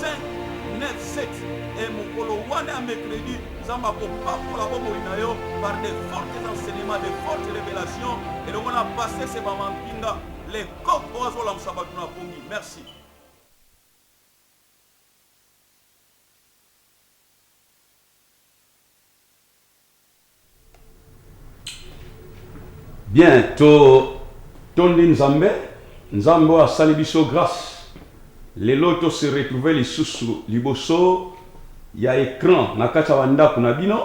5 9 7 et mokolo wana ya mercredi nzambe akopambola bomoi na yo par de fortes enseignements de fortes révélations elongo na basese bamampinga le coq oyo azolamusa bato na pongi merci Bien to tondi nzambe, nzambe oyo asali biso grace lelo to se retrouver lisusu liboso ya ecran na kati ya ba ndaku na bino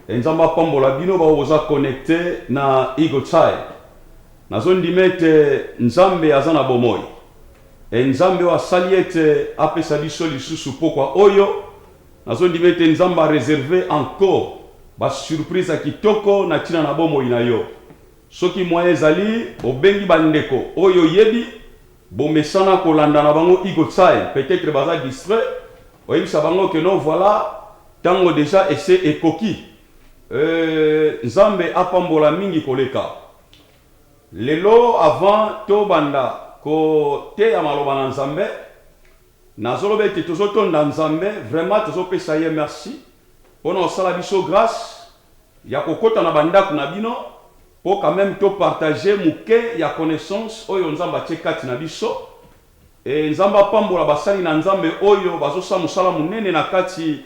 et nzambe apambola bino ba oyo boza connecte na eagle tsai nazo ndima ete nzambe aza na bomoyi et nzambe oyo asali ete apesa biso lisusu pokwa oyo Nazo ndima ete Nzambe a reserver encore ba surprise ya kitoko na tina na bomoi na yo. Soki moyen ezali, obengi ba ndeko oyo oyebi, bo mesana ko landa na bango Eagle Tsai, peut etre baza distrait, oyebisa bango que non voila tango dejà ese ekoki. Euh Nzambe a pambola mingi koleka. Lelo avant to banda ko teya maloba na Nzambe, Nazoloba ete tozo tonda Nzambe vraiment tozo pesa ye merci pona osala biso grace ya kokota na ba ndaku na bino po quand meme to partager muke ya connaissance oyo Nzambe atie kati na biso et Nzambe apambola basali na Nzambe oyo bazo sa musala munene na kati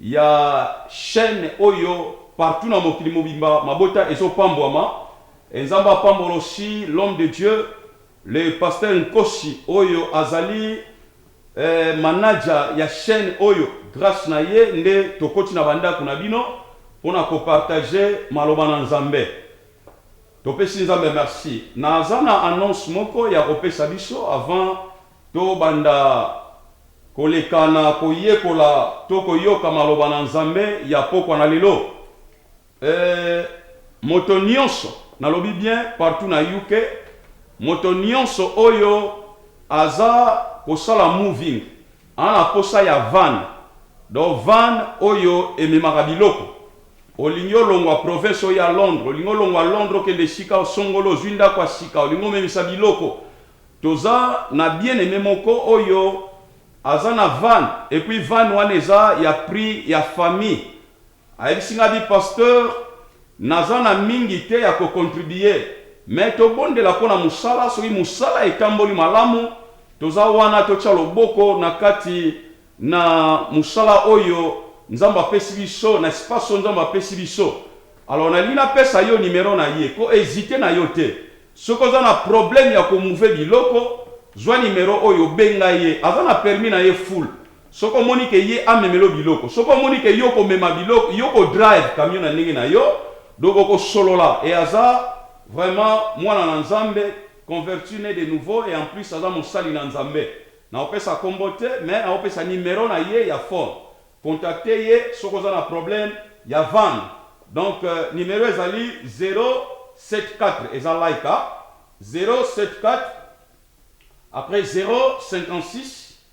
ya chaine oyo partout na mokili mobimba mabota ezo pambwama et Nzambe apambola aussi l'homme de Dieu Le pasteur Nkosi oyo azali eh, manager ya chaine oyo, grace na ye nde tokoti na ba ndaku na bino pona ko partage maloba na Nzambe. Topesi Nzambe merci. Naza na annonce moko ya kopesa biso avant to banda koleka na koyekola to koyoka maloba na Nzambe ya pokwa na lelo. Ehh moto nionso nalobi bien partout na UK moto nionso oyo aza kosala moving a na posa ya van donc van oyo ememaka biloko olingi olongwa province oya Londres olingi olongwa Londres okende esika osongoli ozui ndaku ya sika olingi omemisa biloko toza na bien aime moko oyo aza na van epuis van wana eza ya prix ya famille Ayebisi nga dit pasteur naza na mingi te ya ko contribuer mais tobondela mpo na mosala soki mosala etamboli malamu toza wana totia loboko na kati na mosala oyo nzambe apesi biso na espace oyo nzambe apesi biso alors nalingi napesa yo numero na ye ko hesiter na yo te soki oza na problème ya ko mouver biloko zwa numero oyo benga ye aza na permis na ye full Soki omoni que ye amemela yo biloko, soki omoni que yo okomema biloko, yo oko drive camion na ndenge na yo, donc oko solola et aza Vraiment mwana na Nzambe, converti ne de nouveau et en plus aza mosali na Nzambe. Nako pesa kombo te mais nako pesa numero na ye ya phone. Contacter ye soki oza na problème ya van. Donc numero ezali 074 eza Laika 074 après 056.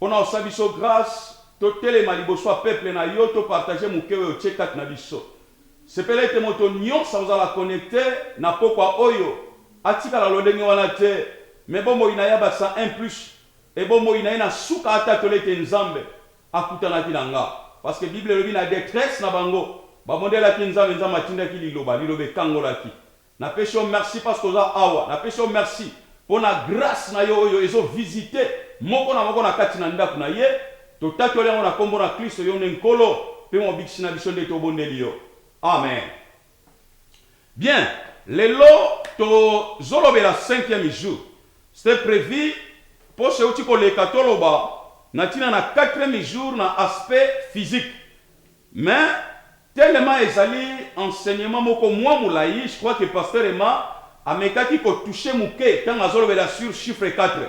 Pona osa biso grace to telema liboso ya peuple na yo to partager muke oyo otie kati na biso. Sepela ete moto nionso akozala connecte na pokua oyo atikala lolenge wana te mais bomoi na ya ba sa un plus et bomoi na ye na suka atatola ete Nzambe akutanaki na nga parce que bible elobi na detresse na bango babondelaki Nzambe, Nzambe atindaki liloba, liloba ekangolaki. Na pesi yo merci parce que oza awa. Na pesi yo merci pona grace na yo oyo ezo visiter moko na moko na kati na ndaku na ye. To tatoli yango na kombo na Klisto, yo nde Nkolo pe Mobikisi na biso nde to bondeli yo. Amen. Bien, lelo to zolobela cinquième jour. C'etait prevu poso ewuti ko leka to loba na tina na quatrième jour na aspect physique mais, Telema ezali enseignement moko mua mulayi, je crois que Pasteur Emma amekaki ko toucher muke tango azolobela sur chiffre quatre.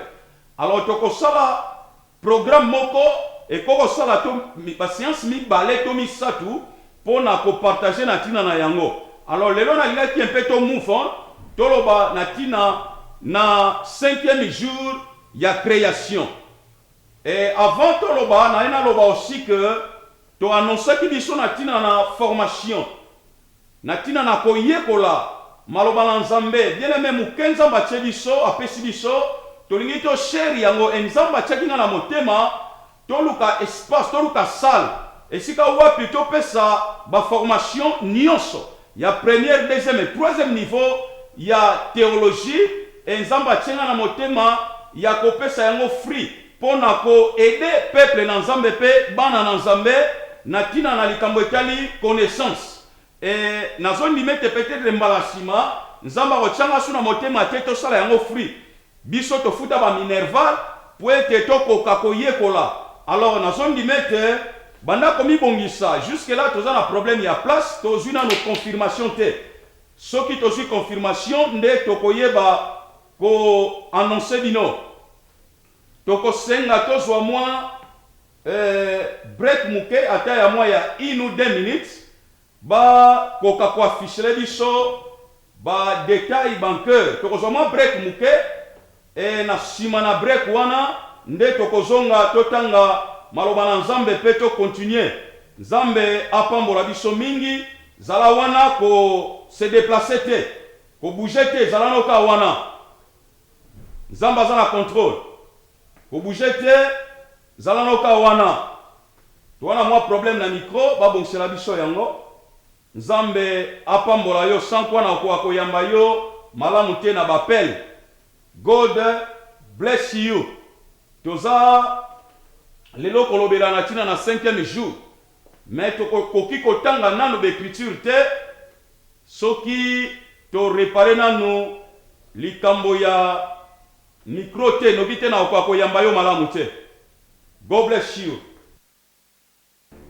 Alors tokosala programme moko ekoki kosala to ba seances mibale to misatu pona ko partager na tina na yango. Alors lelo nalingaki un peu to move on toloba na tina na cinquième jour ya creation. Et avant toloba naye naloba aussi que, To annoncaki biso na tina na formation, na tina na koyekola maloba na Nzambe. Bien aime, muke Nzambe atie biso, apesi biso, tolingi to share yango et Nzambe atiaki nga na motema toluka espace, toluka salle esika wapi topesa ba formation nionso ya première, deuxième et troisième niveau ya theologie et Nzambe atie nga na motema ya kopesa yango free. Pona ko aider peuple na Nzambe pe bana na Nzambe na tina na likambo etali connaissance. Et nazo ndima ete peut etre mbala sima Nzambe ako tia nga su na motema te to sala yango free. Biso to futa ba minerval po ete to koka ko yekola. Alors nazo ndima ete banda ko mi bongisa. Jusque là toza na problème ya place, to zui nanu confirmation te. Soki to zui confirmation nde toko yeba ko annoncer bino. Toko senga tozua mua eh break muke ata ya mua ya une ou deux minutes ba koka ko affichele biso ba details banqueur. Toko zua mua break muke eh na sima na break wana nde toko zonga to tanga maloba na Nzambe pe to continuer. Nzambe apambola biso mingi. Zala wana ko se deplacer te, ko bouger te zala nao kaka wana. Nzambe aza na controle ko bouger te zala no ka wana toa na mwa problème na micro ba bongisela biso yango nzambe apambola yo sans quoi na koka ko yamba yo malamu te na b'appel God bless you toza lelo kolobela na tina na cinquième jour Mais toko koki ko tanga nanu ba ecriture te soki to repare nanu likambo ya micro te noki te nako koka ko yamba yo malamu te God bless you.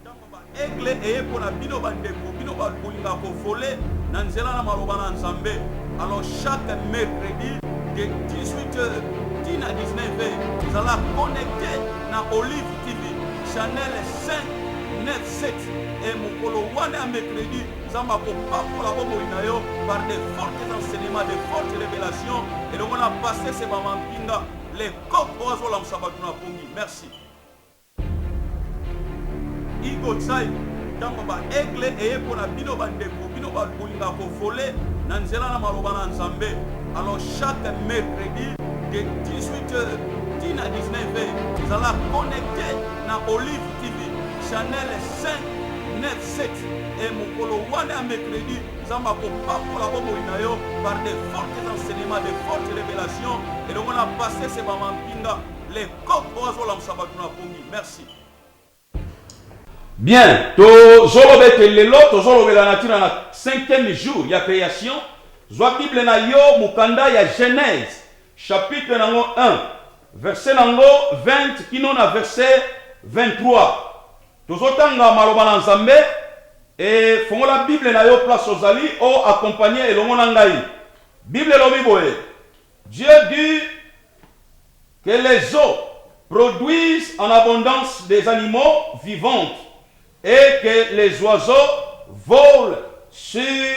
Tango ba aigle eye pona bino ba ndeko bino batu bolingaka ko voler na nzela na maloba na nzambe alors chaque mercredi de 18 heures ti na 19 heures zala connecte na olive TV channel 5 9 7 et mokolo wana ya mercredi nzambe akopambola bomoi na yo par de fortes enseignements de fortes révélations elongo na pasese bamampinga le coq oyo azolamusa bato na pongi merci igo tsai ntango baegle eye mpo na bino bandeko bino bakolinga kovole na nzela na maloba na nzambe alors chaque mercredi de 18 heures ti na 19 heures zala connecte na Olive TV chanel 597 et mokolo wana ya mercredi nzambe akopambola bomoi na yo par de fortes enseignements de fortes révélations elongo na pasese bamampinga le coq oyo azolamusa bato na pongi merci Bien, tozoloba ete lelo tozolobela na ntina na cinquième jour ya creation. Zwa Bible na yo, mokanda ya Genèse, chapitre na yango 1 verset na yango 20 kino na verset 23 tozo tanga maloba na Nzambe et fongola bible na yo place ozali o accompagner elongo na ngai bible elobi boye Dieu dit que les eaux produisent en abondance des animaux vivantes et que les oiseaux volent sur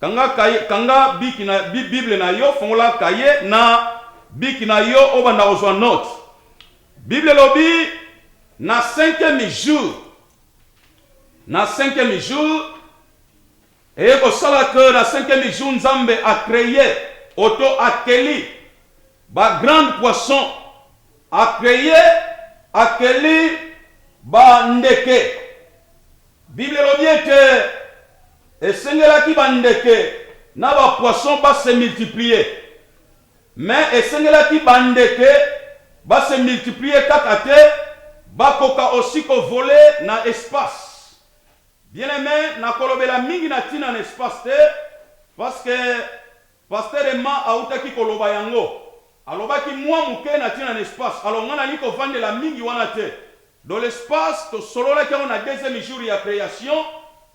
Kanga kaye, kanga biki na, bi, Bible na yo, fongola kaye na biki na yo, obanda kozua note. Bible elobi, Na cinquième jour, na cinquième jour, eye kosala que na cinquième jour Nzambe a creer, oto akeli, ba grandes poissons, a creer, akeli ba ndeke, Biblia elobi ete esengelaki bandeke na ba poissons ba se multiplier. Mais esengelaki bandeke ba se multiplier kaka te, bakoka aussi ko voler na espace. Bien-aime, nakolobela mingi na tina na espace te, parce que, Pasteur Emma awutaki koloba yango. Alobaki mua muke na tina na espace. Alors nga nalingi kovandela mingi wana te. Donc l'espace tosololaki yango na deuxième jour ya creation.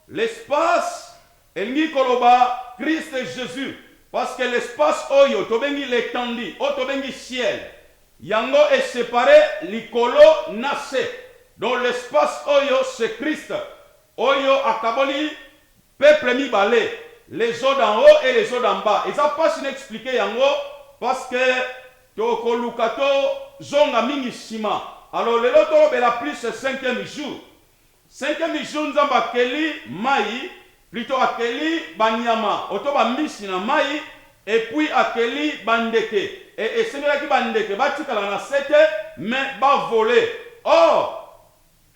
L'espace elingi koloba Christ Jesus. Parce que l'espace oyo tobengi l'etendue, oyo tobengi ciel, yango e separer likolo na se. Donc l'espace oyo c'est Christ oyo akaboli. Peuple mibale les eaux d'en haut et les eaux d'en bas eza pasi na expliquer yango parce que toko luka to zonga mingi sima alors lelo tolobela plus cinquième jour cinquième jour nzambe akeli mayi plutot akeli ba nyama oto ba mbisi na mayi et puis akeli ba ndeke et esengelaki ba ndeke batikala na se te mais ba voler or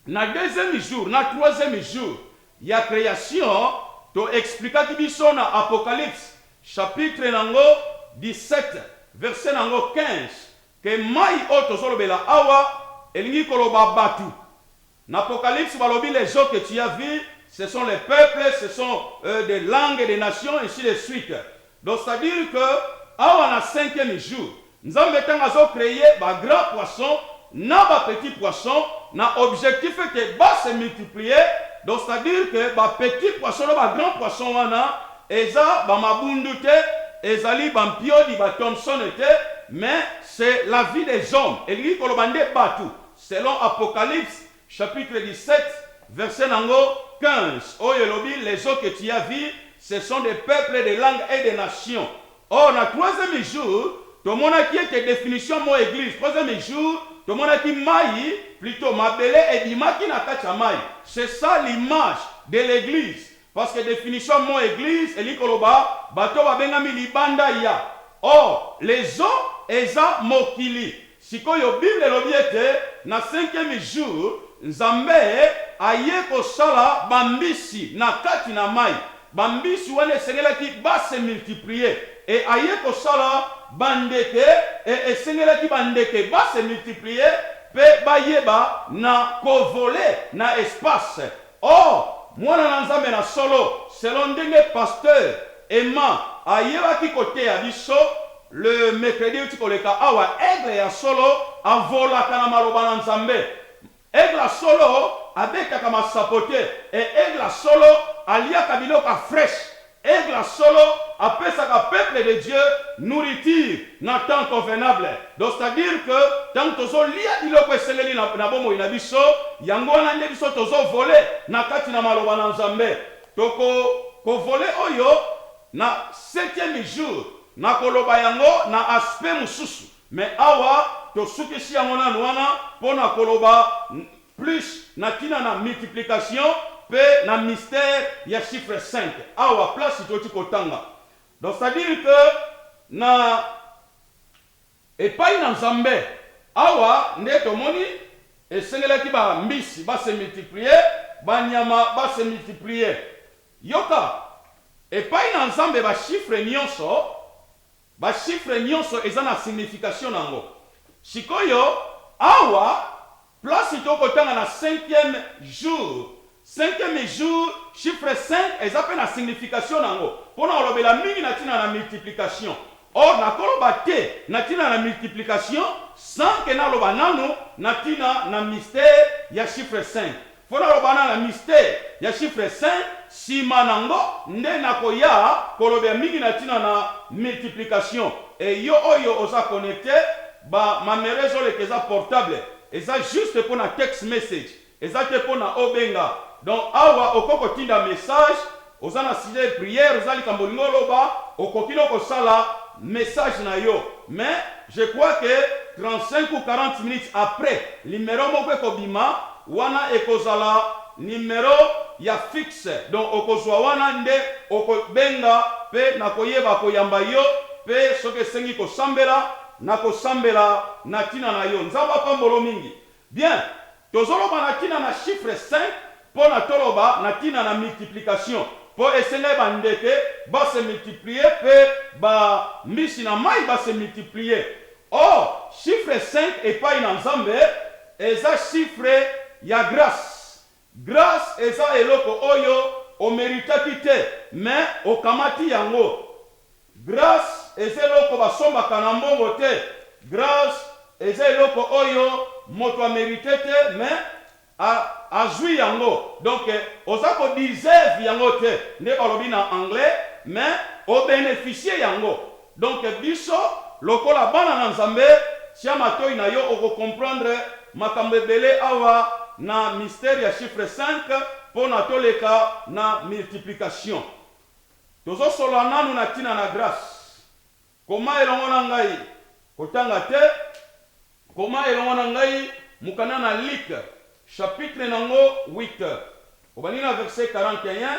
Na deuxième jour na troisième jour ya creation to explikaki biso na Apocalypse chapitre nango 17 verset nango 15 que mayi oyo tozolobela awa elingi koloba batu. N'Apocalypse balobi les eaux que tu as vu ce sont les peuples ce sont des langues des nations ainsi de suite Donc c'est à dire que awa na cinquième jour nzambe tango azo creer ba grand poisson na ba petit poisson na objectif que ba se multiplier donc c'est à dire que ba petit poisson na ba grand poisson wana eza ba mabundu te ezali ba mpiodi ba Thomson te mais c'est la vie des hommes elingi koloba nde batu selon apocalypse chapitre 17 verset na yango 15 oyo elobi les eaux que tu as vue ce sont des peuples des langues et des nations or na troisieme jour tomonaki ete definition mot eglise troisieme jour tomonaki mayi plutot mabele ebimaki na kati ya mayi c'est ça l'image de l'eglise Parce que definition ya mot eglise elingi koloba bato oyo babengami libanda ya. Or, les o eza mokili. Sikoyo bible elobi ete na cinquieme jour Nzambe aye kosala ba mbisi na kati na mayi. Ba mbisi wana esengelaki ba se multiplier et aye kosala ba ndeke et esengelaki ba ndeke ba se multiplier pe bayeba na ko voler na espace. Oh! Mwana na Nzambe na solo, selon ndenge Pasteur Emma ayebaki koteya biso le mercredi euti koleka awa, Aigle ya solo avolaka na maloba na Nzambe. Aigle ya solo abetaka masapo te et Aigle ya solo aliaka biloko ya fresh. Aigle ya solo apesaka peuple de Dieu nourriture na temps convenable donc c'est à dire que tangu tozo lia biloko esengeli na na bomoi na biso yango wana nde biso tozo voler na kati na maloba na Nzambe toko ko voler oyo na septieme jour na koloba yango na aspect mususu mais awa tosukisi yango nanu wana pona koloba Plus na tina na multiplication pe na mystere ya chiffre cinq awa place toki kotanga donc c'est à dire que na epayi na nzambe awa nde tomoni esengelaki ba mbisi ba se multiplier ba nyama ba se multiplier yoka epayi na nzambe ba chiffre nionso Ba chiffres nionso eza na signification nango. Sikoyo awa place to ko tanga na cinquième jour, cinquième jour chiffre cinq eza pe na signification nango. Pona ko lobela mingi na tina na multiplication. Or na ko loba te na tina na multiplication sans que na loba nanu na tina na mystère ya chiffre cinq. Mpo nalobana na mistere ya chiffre cinq, sima nango nde nakoya kolobea mingi na tina na multiplication. Et yo oyo oza connecte, ba mamero ezo leka eza portable, eza juste mpo na text message, eza te mpo na obenga. Donc awa okoki kotinda message. Oza na sujet prière oza likambo olingi oloba okoki no kosala message na yo mais je crois que 35 ou 40 minutes après numero moko ekobima wana ekozala numero ya fixe donc okozua wana nde oko benga pe nakoyeba koyamba yo pe soki esengi kosambela nakosambela na tina na yo nzambe apambolo mingi Bien! Tozoloba na tina na chiffre cinq pona toloba na tina na multiplication po esengai ba ndeke ba se multiplier pe ba mbisi na mayi ba se multiplier. Or, chiffre cinq epayi na Nzambe eza chiffre ya grace Grace eza eloko oyo o meritaki te mais okamati yango grace eza eloko ba sombaka na mbongo te grace eza eloko oyo moto a merite te mais a azui yango donc oza ko deserve yango te nde balobi na anglais mais o beneficier yango. Donc biso lokola bana na Nzambe tia matoyi na yo oko comprendre makambo ebele awa na mystere ya chiffre cinq pona toleka na multiplication tozo solola nanu na tina na grace koma elongo na ngai kotanga te koma elongo na ngai mukanda na Luc chapitre nango huit obandi na verset quarante et un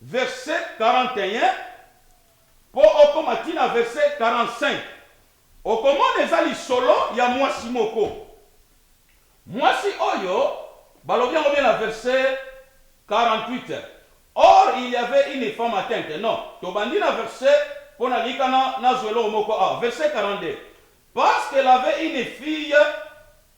verse 41 po okoma ti na verse 45, okomona eza lisolo ya mwasi moko. Mwasi oyo balobi yango bien na verse 48, Or il y avait une femme atteinte. Non, tobandi na verse po nalingi kaka nazwa eloko moko awa, verse 42, Parce qu'elle avait une fille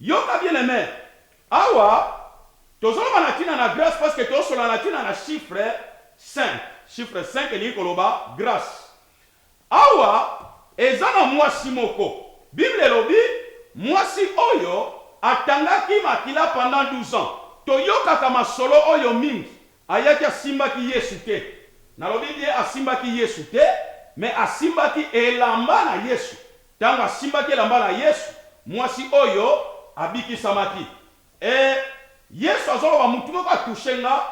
Yoka bien-aime, awa tozoloba na tina na grace parce que tosolola na tina na chiffre cinq, chiffre cinq elingi koloba grace. Awa eza na mwasi moko, bible elobi mwasi oyo atangaki makila pendant douze ans, toyokaka masolo oyo mingi. Ayaki asimbaki Yesu te. Nalobi bien asimbaki Yesu te, mais asimbaki elamba na Yesu. Tango asimbaki elamba na Yesu, mwasi oyo abikisamaki. Ee, Yesu azoloba, mutu moko a toucher nga.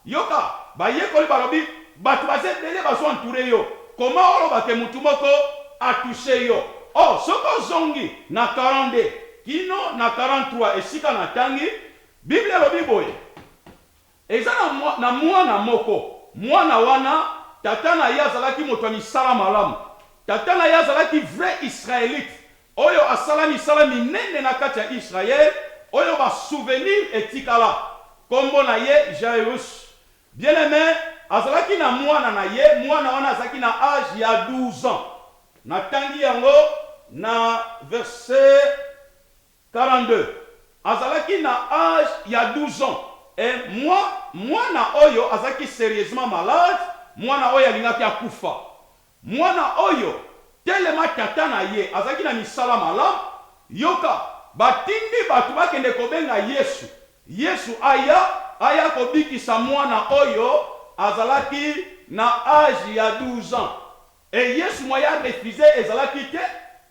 Yoka, bayekoli balobi, batu baza ebele bazo entourer yo, comment oloba que mutu moko a toucher yo? Oh, soki ozongi na 42 kino na 43 esika natangi, Bible elobi boye, Eza na mwa, na mwana moko. Mwana wana, tata na ye azalaki moto ya misala malamu. Tata na ye azalaki vrai Israelite, oyo asala misala minene na kati ya Israël, oyo ba souvenirs etikala. Kombo na ye Jairus. Bien-aime azalaki na mwana na ye, mwana wana azalaki na age ya 12 ans. Natangi yango na verset 42 azalaki na age ya 12 ans et mwa mwana oyo azalaki serieusement malade mwana oyo alingaki akufa mwana oyo telema tata na ye azalaki na misala malamu yoka batindi batu bakende kobenga yesu yesu aya aya kobikisa mwana oyo azalaki na age ya 12 ans Et Yesu moyen a refuser ezalaki te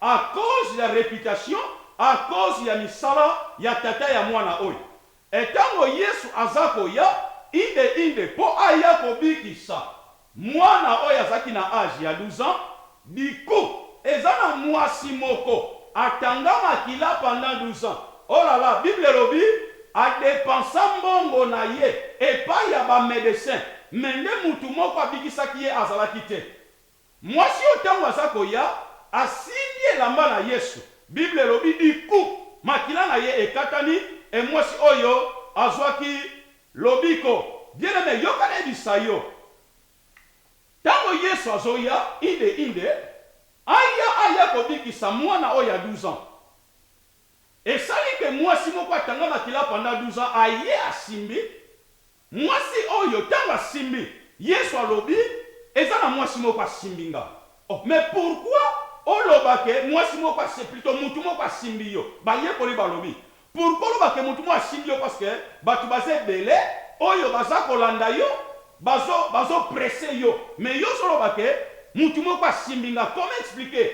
à cause ya reputation, à cause ya misala ya tata ya mwana oyo. Et tango Yesu aza koya, inde inde po aya kobikisa mwana oyo azalaki na age ya 12 ans, du coup eza na muasi moko atanga makila pendant 12 ans, Oh la la bible elobi a depensa mbongo na ye epayi ya ba medecin mais nde mutu moko abikisaki ye azalaki te mwasi oyo tangu aza koya asimbi elamba na yesu bible elobi du coup makila na ye ekatani et mwasi oyo azwaki lobiko bien aime yoka na yebisa yo tangu yesu azoya inde inde aya aya kobikisa mwana oyo ya 12 ans. Esali que muasi moko atanga makila pendant 12 ans aye asimbi muasi oyo tango asimbi yesu alobi eza na muasi moko asimbi nga oh mais pourquoi oloba que muasi moko asi plutot mutu moko asimbi yo bayekoli balobi pourquoi oloba que mutu moko asimbi yo parce que batu baza ebele oyo baza kolanda yo bazo bazo presse yo mais yo ozo loba que mutu moko asimbi nga comment expliquer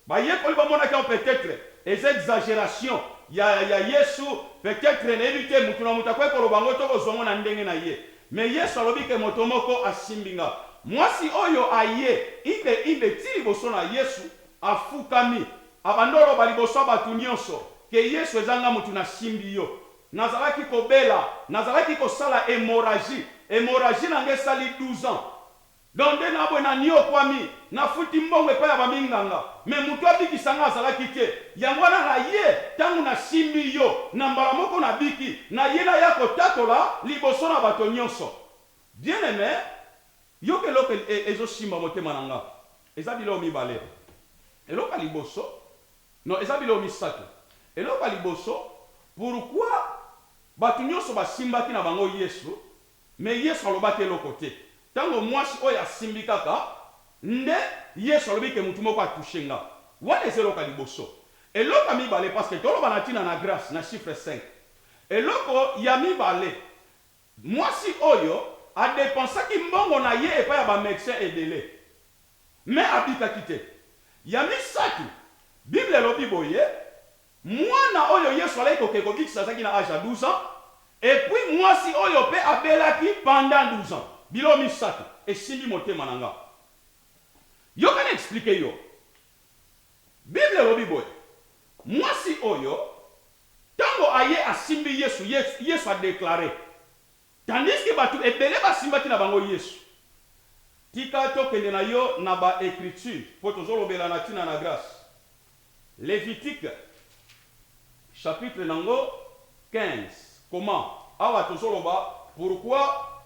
Bayekoli bamonaki yango peut-etre eza exageration ya ya Yesu, peut-etre nayebi te mutu na mutu akoki koloba yango to kozua yango na ndenge na ye mais Yesu alobi que moto moko asimbi nga. Muasi oyo aye imbe imbe ti liboso na Yesu, afukami, abanda oloba liboso ya batu nionso que Yesu eza nga mutu nasimbi yo. Nazalaki kobela, nazalaki kosala hemorragie, hemorragie na nga esali 12 ans, Donc nde na boye na niokwami, na futi mbongo epai ya ba minganga mais mutu abikisa nga azalaki te, yango wana na ye tangu na simbi yo na mbala moko na biki, na ye na ya ko tatola liboso na bato nionso. Bien aime yoka eloko ezo simba motema na nga eza biloko mibale, eloko ya liboso non eza biloko misatu, eloko ya liboso pourquoi bato nionso ba simbaki na bango Yesu Mais Yesu alobaki eloko te tango muasi oyo asimbi kaka nde Yesu alobi que mutu moko a touche nga. Wana eza eloko ya liboso. Eloko ya mibale parce que toloba na tina na grace na chiffre cinq. Eloko ya mibale muasi oyo a depensaki mbongo na ye epai ya ba medecins ebele mais abikaki te. Ya misatu bible elobi boye. Muana oyo Yesu alaki koke kobikisa azalaki na age ya 12 ans et puis muasi oyo pe abelaki pendant 12 ans. Biloko misatu esimbi motema na nga. Yoka na explique yo. Bible elobi boye, muasi oyo tango aye asimbi Yesu, Yesu a declare. Tandis que batu ebele ba simbaki na bango Yesu. Tika to kende na yo na ba ecritures po tozo lobela na tina na grace. Levitique chapitre na ngo 15 koma awa tozo loba pourquoi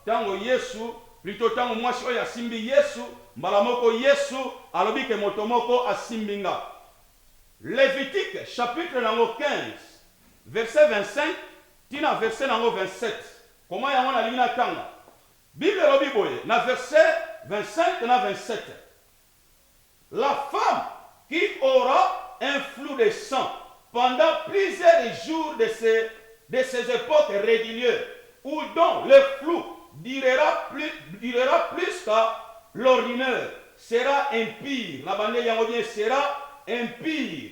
tango Yesu plutot tango mwasi oyo asimbi Yesu mbala moko Yesu alobi ke moto moko asimbi nga. Levitique chapitre na ngo 15 verset 25. Tii na verse na yango 27. Koma yango, nalingi natanga. Bible elobi boye na verse 25 na 27, La femme qui aura un flux de sang pendant plusieurs jours de se de ses epoques reguliers ou dont le flux durera plus durera plus que l'ordinaire sera impure. Nabandeli yango bien, sera impure.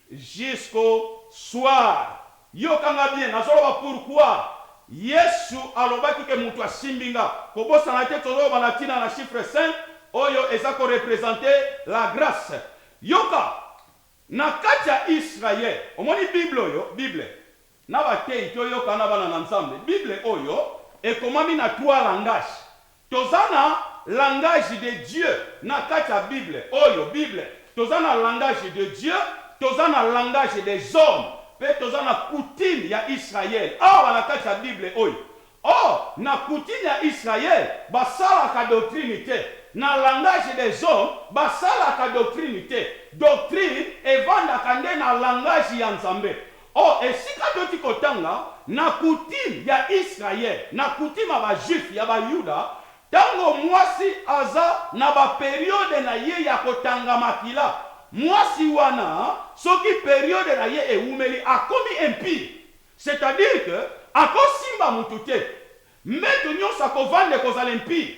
Jusqu'au soir yoka nga bien nazoloba pourquoi yesu alobaki ke mutu asimbi nga kobosana te tozoloba na tina na chiffre cinq oyo eza ko represente la grace yoka na kati ya israel omoni bible oyo bible Na bateyi to yoka na bana na nzambe bible oyo ekomami na trois langage toza na langage de Dieu na kati ya bible oyo bible toza na langage de Dieu toza na langage des hommes pe toza na coutume ya Israël awa na kati ya bible oyo Oh, na coutume ya Israël, basalaka doctrine te. Na langage des hommes, basalaka doctrine te. Doctrine evandaka nde na langage ya Nzambe. Oh, esika toki kotanga, na coutume ya Israël, na coutume ya ba Juifs, ya ba Yuda, tango mwasi aza na ba periodes na ye ya kotanga makila, mwasi wana, soki periode na ye ewumeli, akomi impur. C'est à dire que ako simba mutu te, mbetu nionso ako vanda ekozala impie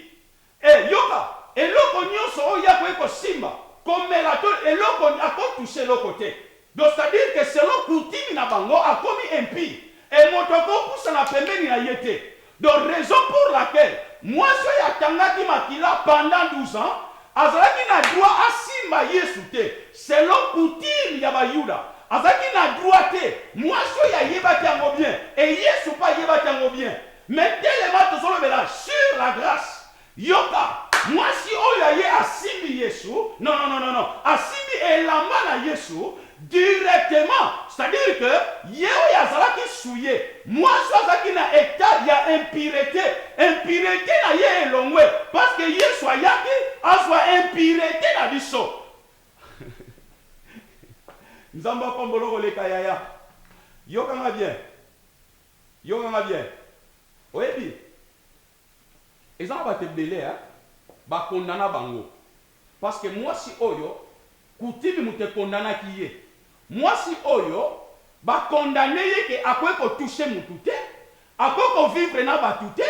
et yoka eloko nionso oyo ye akoki ko simba, ko mela to eloko ako toucher eloko te. Donc c'est à dire que selon coutume na bango akomi impie et moto ako pusana pembeni na ye te Donc raison pour laquelle mwasi oyo akangaki makila pendant 12 ans azalaki na droit asimba Yesu te, selon coutume ya ba yuda azalaki na droit te, mwasi oyo ayebaki yango bien et Yesu pe ayebaki yango bien, mais telema tozolobela sur la grace Yoka! Mwasi oyo aye asimbi Yesu, non, non, non, non, non, asimbi elamba na Yesu directement, c'est à dire que ye oyo azalaki souille, mwasi oyo azalaki na etat ya impurete, impurete na ye elongwe parce que Yesu ayaki azwa impurete na biso. Nzambe apambola yo koleka yaya. Yoka nga bien, yoka nga bien, oyebi? Eza na batu ebele hein ba condana bango parce que muasi oyo coutume mutu e condanaki ye muasi oyo ba condane ye que akoki ko touche mutu te akoki ko vivre na batu te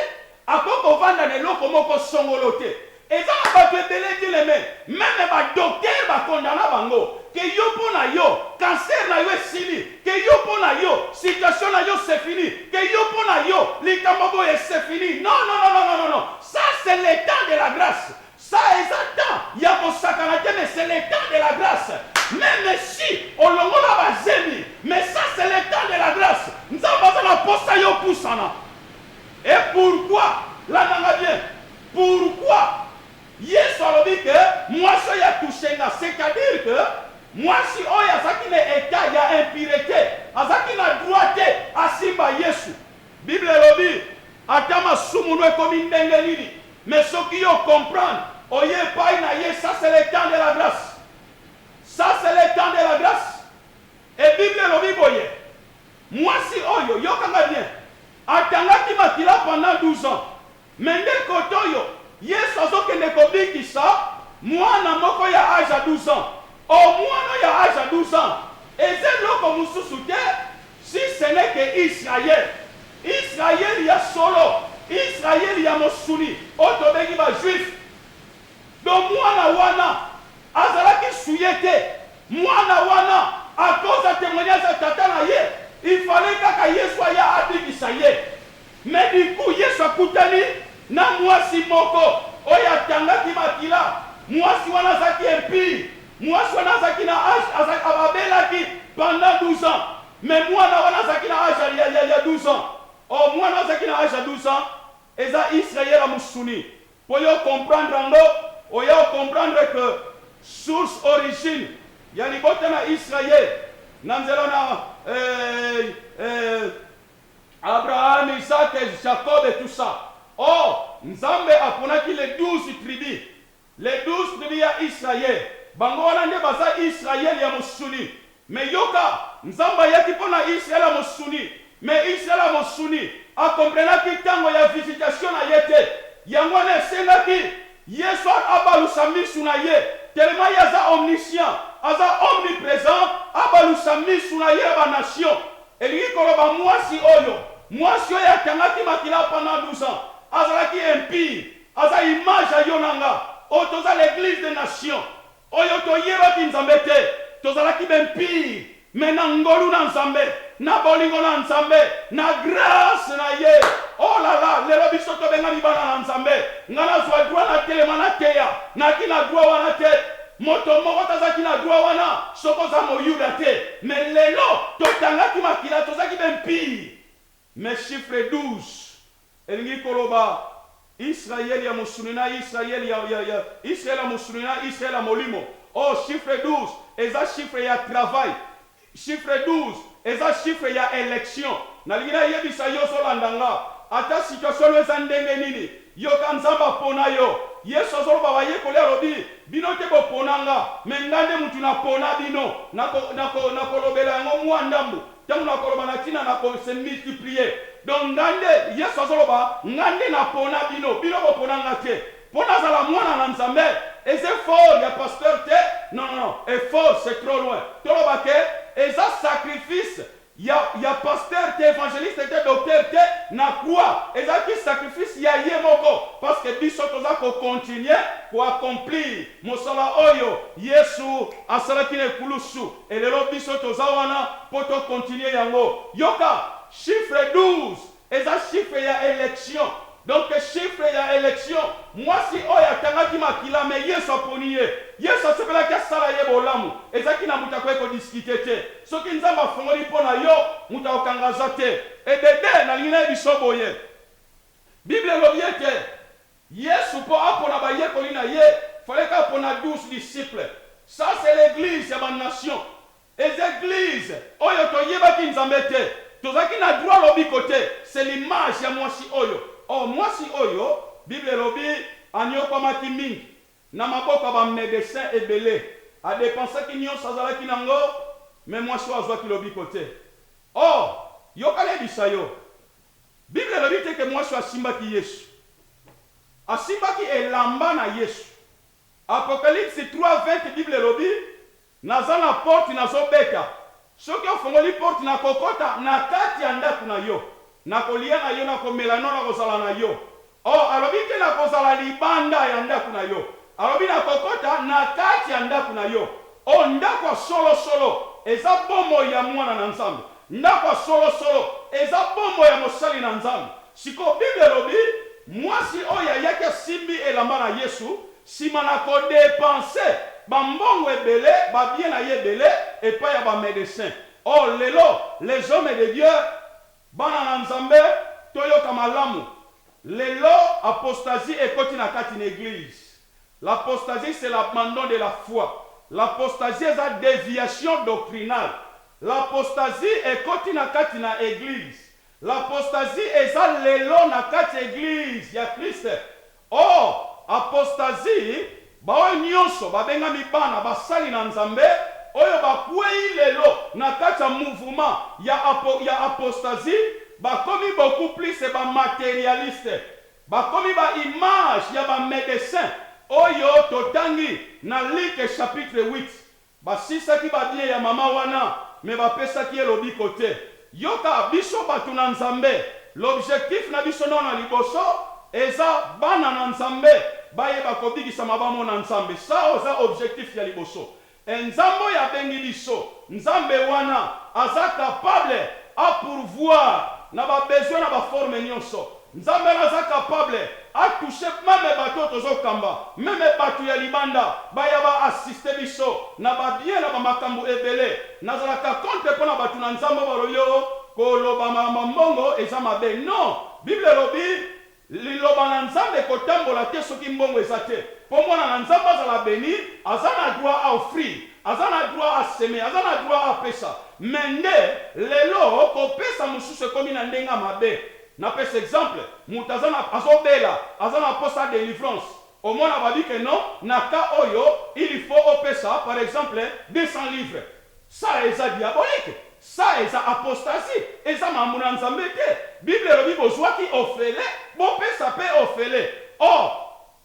akoki ko vanda na eloko moko songolo te Eza na batu ebele te le me meme ba docteur ba condana bango que yo pona yo cancer na yo esili que yo pona yo situation na yo se fini que yo pona yo likambo boye se fini non non non non non sa se le temps de la grace sa eza temps ya kosakana te me se le temps de la grace meme si olongola ba zemi me sa se le temps de la grace nzambe aza na posa yo pusana et pourquoi landa nga bien. Pourquoi Yesu alobi que mwasi oyo a touche nga? C'est à dire que mwasi oyo azalaki na etat ya impurete, azalaki na droit te asimba Yesu. Bible elobi ata masumu no ekomi ndenge nini, mais soki yo o comprendre oye epayi na ye, ça c'est le temps de la grace. Ça c'est le temps de la grace. Et Bible elobi boye, mwasi oyo, yoka nga bien, atangaki makila pendant 12 ans. Mais nde kotoyo yesu azokende kobikisa muana moko ya age ya 12 ans or muana oyo ya age ya 12 ans eza eloko mususu te si ce n'est que Israël Israël ya solo Israël ya mosuni oyo tobengi ba juif donc muana wana azalaki souille te muana wana à cause ya temoignage ya tata na ye il fallait kaka yesu aya abikisa ye Mais du coup Yesu akutani na muasi moko oyo atangaki makila, muasi wana azalaki impur, muasi wana azalaki na age, azalaki, abelaki pendant 12 ans, mais muana wana azalaki na age ya, ya, ya 12 ans, oh muana azalaki na age ya 12 ans, eza Israel ya musuni, po yo o comprendre yango, oya o comprendre que source, origine, ya libota na Israel na nzela na, eh, eh, Abraham, Isaac, Jacob et tout ça or nzambe aponaki les 12 tribus les 12 tribus y'a Israël bango wana nde baza Israël y'a mosuni mais yoka nzambe ayaki pona Israël y'a mosuni mais Israël y'a mosuni a comprenaki tango y'a visitation na ye te yango wana esengaki yesu abalusa misu na ye tellement ye aza omniscient aza omnipresent abalusa misu na ye y'a ba nations Elingi koloba muasi oyo, muasi oyo akangaki makila pendant 12 ans azalaki impure, aza image ya yo na nga oyo toza l'eglise des nations oyo toyebaki Nzambe te, tozalaki ba impure mais na ngolu na Nzambe, na bolingo na Nzambe, na grace na ye oh la la lelo biso tobengami bana na Nzambe, nga nazua droit natelema nateya, naki na droit wana te, Moto moko te azalaki na droit wana soki oza moyuda te mais lelo to tangaki makila tozaki be mpii mais chiffre 12 elingi koloba Israël ya mosuni na Israël ya ya ya Israël ya mosuni na Israël ya molimo oh chiffre 12 eza chiffre ya travail Chiffre 12 eza chiffre ya election nalingi na yebisa yo ozo landa nga ata situation no eza ndenge nini yoka nzambe apona yo yesu azo loba ba yekoli alobi bino te bo pona nga mais nga nde mutu na pona bino nako nako nako lobela yango mua ndambu tangu nako loba na tina nako se multiplier donc nga nde yesu azo loba nga nde na pona bino bino bo pona nga te Po nazala mwana na Nzambe eza effort ya pasteur te non non non effort c'est trop loin toloba ke eza sacrifice ya ya pasteur te evangeliste te docteur te na croix ezalaki sacrifice ya ye moko parce que biso toza ko continuer ko accomplir mosala oyo yesu asalaki na ekulusu et lelo biso toza wana po to continuer yango yoka chiffre 12 Eza chiffre ya election donc chiffre ya election muasi oyo atangaki makila mais yesu aponi ye yesu asepelaki asala ye bolamu ezaki na mutu akoki ko discuter te soki nzambe afongoli po na yo mutu akokanga aza te ebebe nalingi nayebiso boye bible elobi ete yesu po apona ba yekoli na ye fallait apona 12 disciples ça c'est l'eglise ya ba nation Eza eglise oyo toyebaki nzambe te tozalaki na droit lobiko te c'est l'image ya muasi oyo or muasi oyo bible elobi aniokwamaki mingi na maboko ya ba medecin ebele a depensaki nionso azalaki na ngo mais muasi oyo azuaki lobiko te or yoka nayebisa yo bible elobi te ke muasi oyo asimbaki yesu asimbaki elamba na yesu apocalypse 3 20 bible elobi Naza na porte nazo beta. Soki ofongoli porte nako kota na kati ya ndaku na yo. Nako lia na yo nako mela no nako zala na yo. Oh alobi te nako zala libanda ya ndaku na yo. Alobi nako kota na kati ya ndaku na yo. Oh ndaku ya solo solo eza bomoi ya muana na nzambe. Ndaku ya solo solo eza bomoi ya mosali na nzambe. Sikoyo bible elobi muasi oyo ayaki asimbi elamba na yesu Sima na ko depenser ba mbongo ebele, ba biens na ye ebele epai ya ba medecins. Or, lelo, les hommes de Dieu, bana na Nzambe, toyoka malamu, lelo apostasie ekoti na kati na eglise. L'apostasie c'est l'abandon de la foi. L'apostasie eza deviation doctrinale. L'apostasie ekoti na kati na eglise. L'apostasie eza lelo na kati ya eglise ya Christ. O apostasie, baoyo nyonso babengami bana basali na Nzambe, oyo bakwei lelo na kati ya mouvement ya apo, ya apostasie, bakomi beaucoup plus ba materialistes. Bakomi ba images ya ba medecins oyo totangi na Luc chapitre huit. Basisaki ba bien ya maman wana mais ba pesaki ye lobiko te. Yoka biso batu na Nzambe l'objectif na biso nao na liboso eza bana na Nzambe bayeba kobikisama ba mona Nzambe sa oza objectif ya liboso et Nzambe oyo abengi biso Nzambe wana aza capable a pourvoir na ba besoin na ba forme nionso Nzambe aza capable a touche meme batu oyo tozo kamba meme batu ya libanda baya ba assiste biso na ba bien na ba makambu ebele nazalaka contre pona batu na nzambe oyo balobi oo ko loba ma mbongo eza mabe non bible elobi liloba na nzambe ekotambola te soki mbongo eza te po mwana na nzambe azala beni aza na droit a offrir aza na droit a semer aza na droit a pesa mais nde lelo ko pesa mususu ekomi na ndenge ya mabe Na pesa exemple, mutu aza na azo bela aza na posa ya delivrance omona ba bi ke non na cas oyo il faut opesa par exemple 200 livres ça eza diabolique ça eza apostasie eza maambu na Nzambe te bible elobi bozuaki ofele bopesa pe ofele or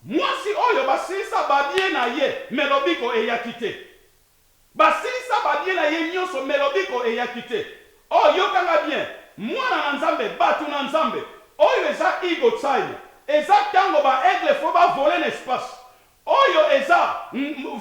muasi oyo ba silisa ba bien na ye mais lobiko eyaki te. Basilisa ba biela ye nionso mais lobiko eyaki te oh yoka nga bien muana na nzambe batu na nzambe oyo eza ego time eza tango ba aigle faut ba vole na espace oyo eza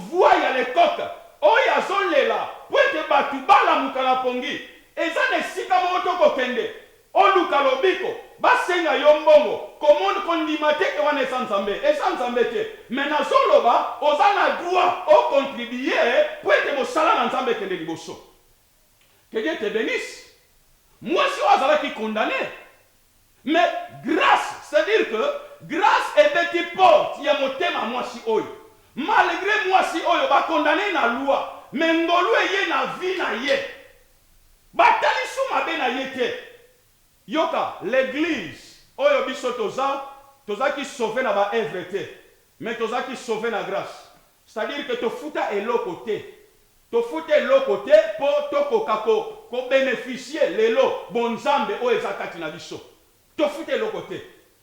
voix ya le coq oyo azo lela puete batu ba lamuka na pongi eza na esika moko toko kende Oluka lobiko ba senga yo mbongo komon ko ndima te ke wana eza nzambe eza nzambe te mais nazo loba oza na droit o contribuer po ete mosala na nzambe ekende liboso que Dieu te benisse muasi oyo azalaki condamne mais grace c'est à dire que grace ebeti porte ya motema ya muasi oyo malgre muasi oyo ba condamne na loi mais ngolu eye na vie na ye. Ba talisu mabe na ye te. Yoka l'eglise oyo biso toza toza ki sauve na ba œuvre te mais toza ki sauve na grace c'est à dire que to futa eloko te to futa eloko te po to koka ko ko beneficier lelo bo nzambe oyo eza kati na biso Tofuta eloko te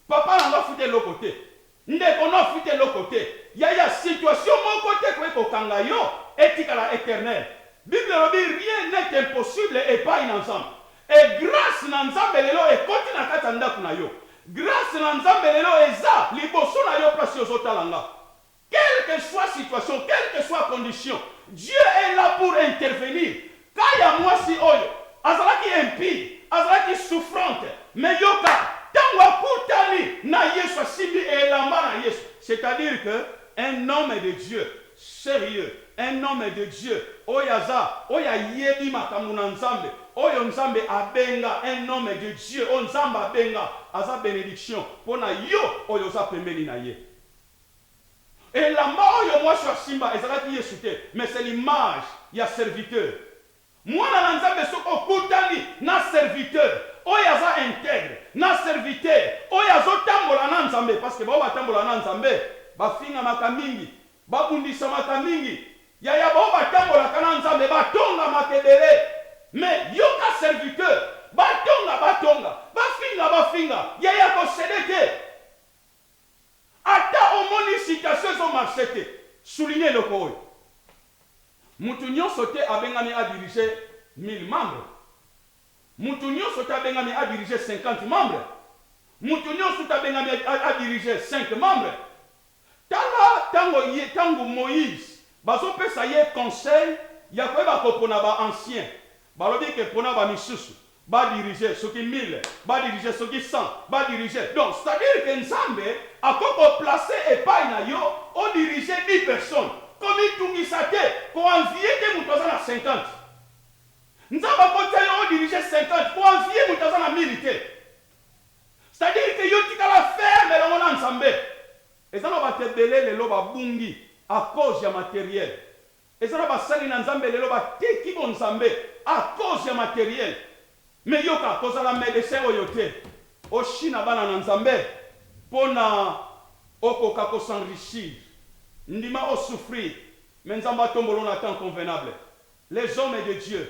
papa na nga afuta eloko te ndeko no afuta eloko te yaya situation moko te ekoki kokanga yo etikala eternel bible elobi rien n'est impossible epayi na nzambe et grace na nzambe lelo ekoti na kati ya ndaku na yo grace na nzambe lelo eza liboso na yo place ozo tala nga Quel que soit situation, quel que soit condition, Dieu est là pour intervenir, cas ya muasi oyo azalaki impie, azalaki souffrante, mais yoka tango akutani na Yesu, asimbi elamba na Yesu, c'est à dire que un homme de Dieu serieux, un homme de Dieu oyo aza, oyo ayebi makambo na Nzambe, oyo Nzambe abenga, un homme de Dieu oyo Nzambe abenga, aza benediction pona yo oyo oza pembeni na ye. Elamba oyo mwasi oyo asimba ezalaki Yesu te, mais c'est l'image ya serviteur. Mwana na Nzambe soki okutani na serviteur oyo aza integre, na serviteur oyo azo tambola na Nzambe, parce que ba oyo ba tambolaka na Nzambe ba fingamaka mingi, ba bundisamaka mingi, yaya ba oyo ba tambolaka na Nzambe ba tongamaka ebele, mais yoka serviteur, ba tonga ba tonga, ba finga ba finga, yaya ko ceder te. Ata omoni citation ezo marcher te, souligner eloko oyo, Mutu nionso te abengami a diriger 1000 membres, mutu nionso te abengami a diriger 50 membres, mutu nionso te abengami a diriger 5 membres. Tala tango ye, tango Moïse bazo pesa ye conseil ya koyeba kopona ba anciens, balobi que pona ba misusu, ba diriger soki 1000, ba diriger soki 100, ba diriger donc c'est à dire que Nzambe akoki ko placer epayi na yo o diriger 10 personnes, ko mitungisa te, ko envier te mutu aza na 50. Nzambe ako tia yo o diriger 50, ko envier mutu aza na 1000 te. C'est à dire que yo tikala ferme elongo na Nzambe. Eza na batu ebele lelo ba bungi à cause ya materiel. Eza na basali na nzambe lelo ba teki bo nzambe a cause ya materiel mais yoka kozala medecin oyo te o shina bana na nzambe pona okoka ko s'enrichir ndima o souffrir mais nzambe atombola yo na temps convenable les hommes de Dieu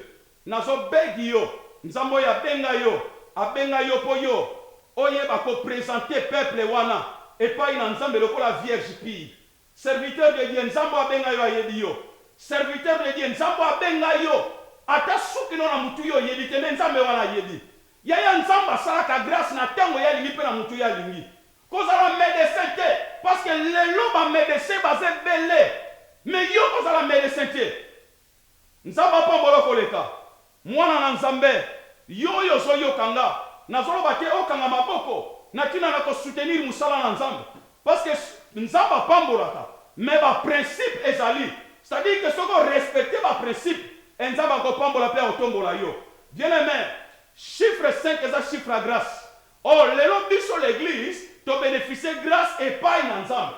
nazo beg yo nzambe oyo abenga yo abenga yo po yo oyeba ko presenter peuple wana epayi na nzambe lokola vierge pure Serviteur de Dieu nzambe oyo abenga yo ayebi yo serviteur de Dieu nzambe oyo abenga yo ata suki no na mutu yo oyebi te mais nzambe wana ayebi yaya nzambe asalaka grace na tango ye alingi pe na mutu ye alingi kozala medecin te parce que lelo ba medecin baza ebele mais yo ozala medecin te Nzambe apambola koleka. Mwana na Nzambe, yo oyo ozo yoka nga, nazo loba te okanga maboko na tina na ko soutenir musala na Nzambe parce que Nzambe apambolaka mais ba principes ezali c'est à dire que soki o respecter ba principes et Nzambe ako pambola pe ako tombola yo bien aime chiffre cinq eza chiffre ya grace or lelo biso l'eglise to beneficier grace epayi na Nzambe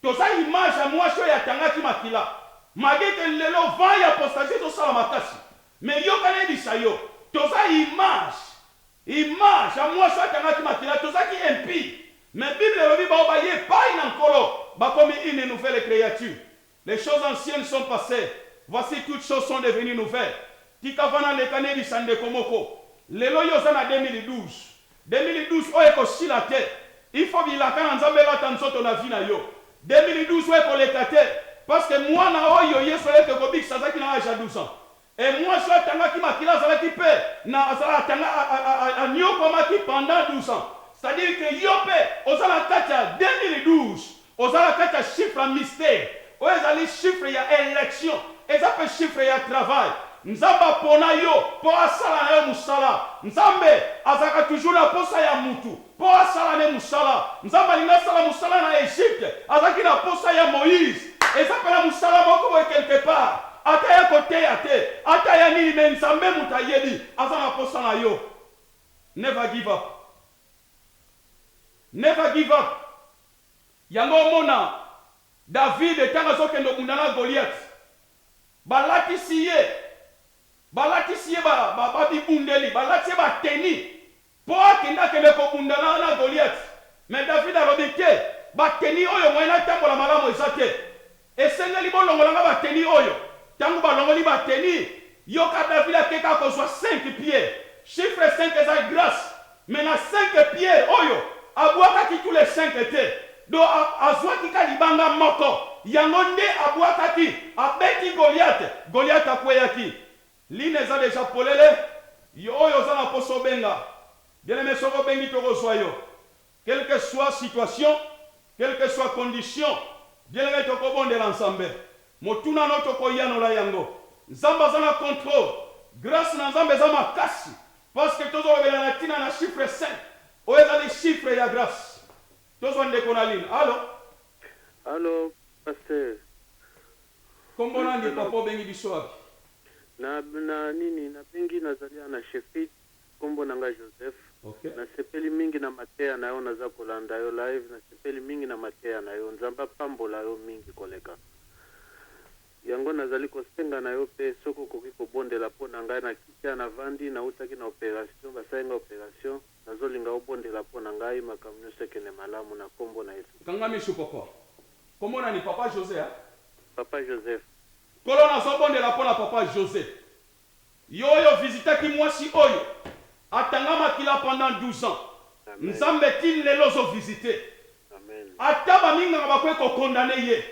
Toza image ya muasi oyo atangaki makila mabe te lelo vent ya apostasie ezo sala makasi mais yoka nayebisa yo toza image image ya muasi oyo atangaki makila toza ki impie mais bible elobi baoyo baye epayi na nkolo bakomi une nouvelle creature les choses anciennes sont passer voici toutes choses sont devenues nouvelles tika vana leka nayebisa ndeko moko lelo yo oza na 2012 2012 oyo eko sila te il faut bilaka na nzambe elata nzoto na vie na yo 2012 oyo eko leka te parceque muana oyo yesu ayaki ko bikisa azalaki na age ya 12 ans et muasi oyo atangaki makila azalaki pe na a niokuamaki pendant 12 ans c'est à dire que yo pe oza na kati ya 2012. Oza na kati ya chiffre ya mystère. Oyo ezali chiffre ya election. Eza pe chiffre ya travail. Nzambe apona yo po asala na yo mosala. Nzambe azalaka toujours na posa ya mutu po asala ne mosala. Nzambe alingi asala mosala na Egypte, azalaki na posa ya Moïse. Eza pe na mosala moko boye quelque part. Ata ya ko teya te, ata ya nini mais Nzambe mutu ayebi aza na posa na yo. Never give up. Never give up. Yango omona David tango azokende obunda na Goliath balatisi ye balatisi ye ba bibundeli balati ye ba tenue po akende akende kobunda na Goliath mais David alobi te ba tenue oyo moyen natambola malamu eza te. Esengeli bolongola nga ba tenue oyo tangu balongoli ba tenue yoka davila ake kaka kozua cinq pieds chiffre cinq eza grace mais na cinq pieds oyo abuakaki tout les cinq te do azuaki ka libanga moko yango nde abuakaki abeti goliate goliate akueyaki line eza deja polele yo oyo oza na posa obenga bien aime soki obengi toko zua yo Quelque soit situation, quelque soit condition, bien ngai toko bondela Nzambe. Motuna no toko yanola yango. Nzambe aza na controle. Grace na Nzambe eza makasi parce que tozo lobela na tina na chiffre cinq. Oyo ezali chiffre ya grace. Tozwa ndeko na ligne. Allo? Allo pasteur. Kombo nani papa obengi biso wapi? Na na nini na bengi nazali awa na chefride. Kombo na nga Joseph. Na sepeli mingi na mateya na yo naza kolanda yo live na sepeli mingi na mateya na yo nzambe apambola yo mingi koleka yango na zali kosenga na yo pe soki okoki kobondela po na ngai na kiti ya na vandi na wutaki na operation basali nga operation na zolinga obondela po na ngai makambo nioso ekende malamu na kombo na yesu Kanga misu papa. Kombo nani papa Jose hein? Papa Joseph. Nkolo nazobondela pona papa Jose Yo oyo o visitaki mwasi oyo a tanga makila pendant 12 ans, Nzambe ti lelo ozo visite. Ata ba minganga ba koki ko condamne ye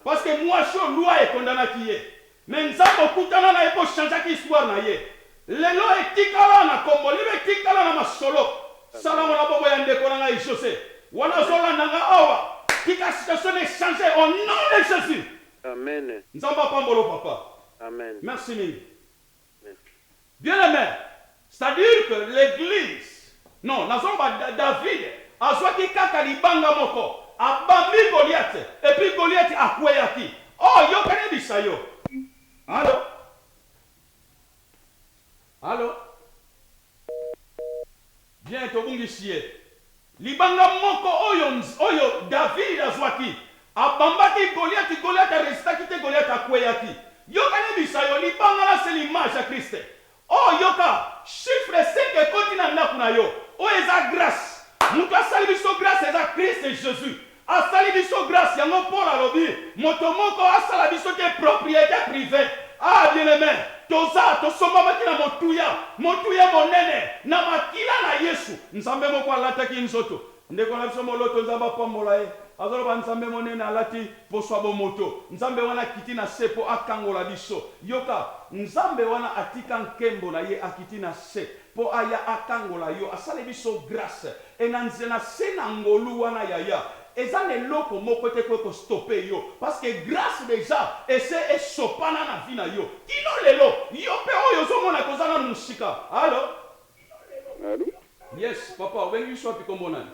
parce que mwasi oyo loi e condanaki ye mais Nzambe o kutana na ye po o changeaki histoire na ye. Lelo e tikala na kombo, lelo e tikala na masolo. Sala ngo na bongo ya ndeko na ngai Jose. Wana azo landa nga awa, tika situation na e changer au nom de Jesus. Amen. Nzambe apambola yo papa. Amen. Merci mingi. Merci. Bien aime c'est à dire que l'eglise non nazoloba David azwaki kaka libanga moko abambi Goliath et puis Goliath akweyaki oh yoka nayebisa yo allo allo Bien, tobungisi ye. Libanga moko oyo, oyo David azwaki. Abambaki Goliath, Goliath a resistaki te, Goliath akweyaki. Yoka nayebisa yo, libanga là c'est l'image ya Christ. Oh yoka, chiffre cinq ekoti na ndaku na yo, oyo eza grace. Mutu asali biso grace eza Christ Jesus. Asali biso grace yango Paul alobi moto moko asala biso te propriete privee ah bien aime toza tosombamaki na motuya motuya monene na makila na yesu nzambe moko alataki nzoto ndeko na biso moloto nzambe apambola ye azoloba nzambe monene alati poso ya bomoto nzambe wana akiti na se po akangola biso yoka nzambe wana atika nkembo na ye akiti na se Po aya akangola yo asale biso grace et na nzela na se na ngolu wana yaya eza na eloko moko te ekoki ko stopper yo parce que grace dejà ese esopana na vie na yo kino lelo yo pe oyo ozo mona que oza nanu musika allo Allo. Yes papa obengi biso wapi kombo nani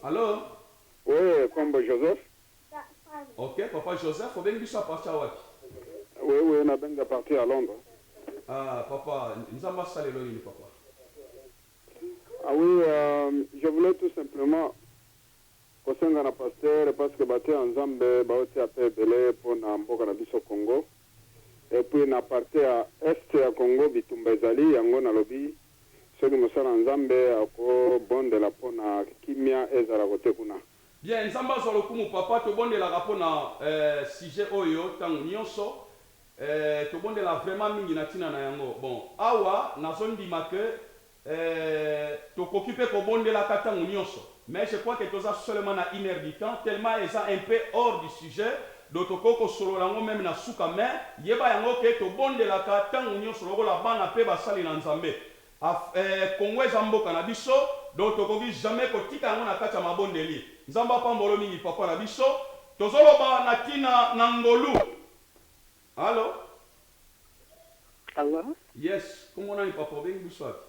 allo. Oui kombo Joseph. Ok papa Joseph obengi biso a partir ya wapi? Oui oui na bengi a partir ya Londres. Ah papa nzambe asala yo nini papa. Ah oui je voulais tout simplement ko senga na pasteur parce que batu ya nzambe bao tia pe ebele pona mboka na biso Congo et puis na partie ya Est ya Congo bitumba ezali yango na lobi soki mosali ya nzambe ako bondela pona kimia ezala kote kuna. Bien nzambe azwa lokumu papa tobondelaka pona eh sujet oyo tango nionso eh tobondela vraiment mingi na tina na yango bon awa nazo ndima que eh tokoki pe kobondelaka tango nionso mais je crois que toza seulement na une heure du temps tellement eza un peu hors du sujet donc tokoki kosolola yango meme na suka mais yeba yango que tobondelaka tango nionso lokola bana pe basali na nzambe Af eh Congo eza mboka na biso donc tokoki jamais kotika yango na kati ya mabondeli. Nzambe apambolo mingi papa na biso. Tozo loba na tina na ngolu. Allo? Allo? Yes, kombo nani papa obengi biso wapi?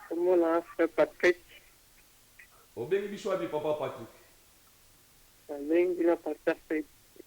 Kombo na nga frère Patrick. Obengi biso wapi papa Patrick? Na bengi bino na pasteur Fred.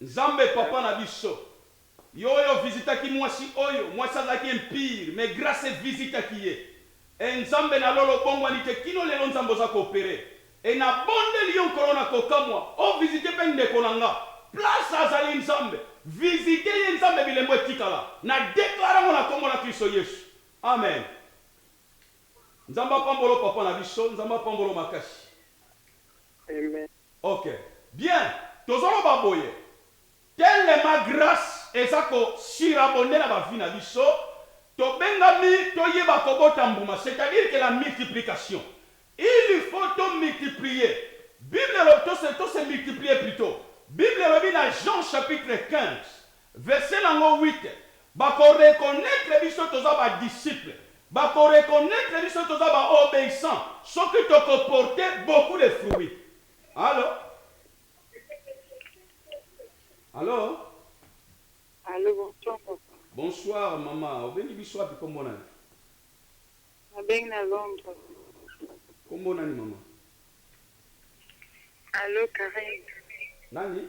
Nzambe papa na biso yo oyo visitaki mwasi oyo mwasi azalaki impur mais grace e visitaki ye eh nzambe na lola obongwani te kino lelo nzambe oza ko opere eh na bondeli yo nkolo na kokamwa o visite pe ndeko na nga place azali nzambe visite ye nzambe bilembo etikala na declare yango na kombo na klisto yesu amen nzambe apambolo papa na biso nzambe apambolo makasi. Amen. Ok bien tozo loba boye telema grace eza ko surabonner na ba vue na biso tobengami toyeba kobota mbuma c'est à dire que la multiplication il faut to multiplier bible elobi to se multiplier plutot bible elobi na Jean chapitre 15 Verset nango huit, ba ko reconnaitre biso toza ba disciples, ba ko reconnaitre biso toza ba obeissants soki toko porter beaucoup de fruits. Allo? Allo? Allo, bonsoir papa. Bonsoir mama, obengi biso wapi kombo nani? Na bengi na Londres. Kombo nani mama? Allo Carine. Nani?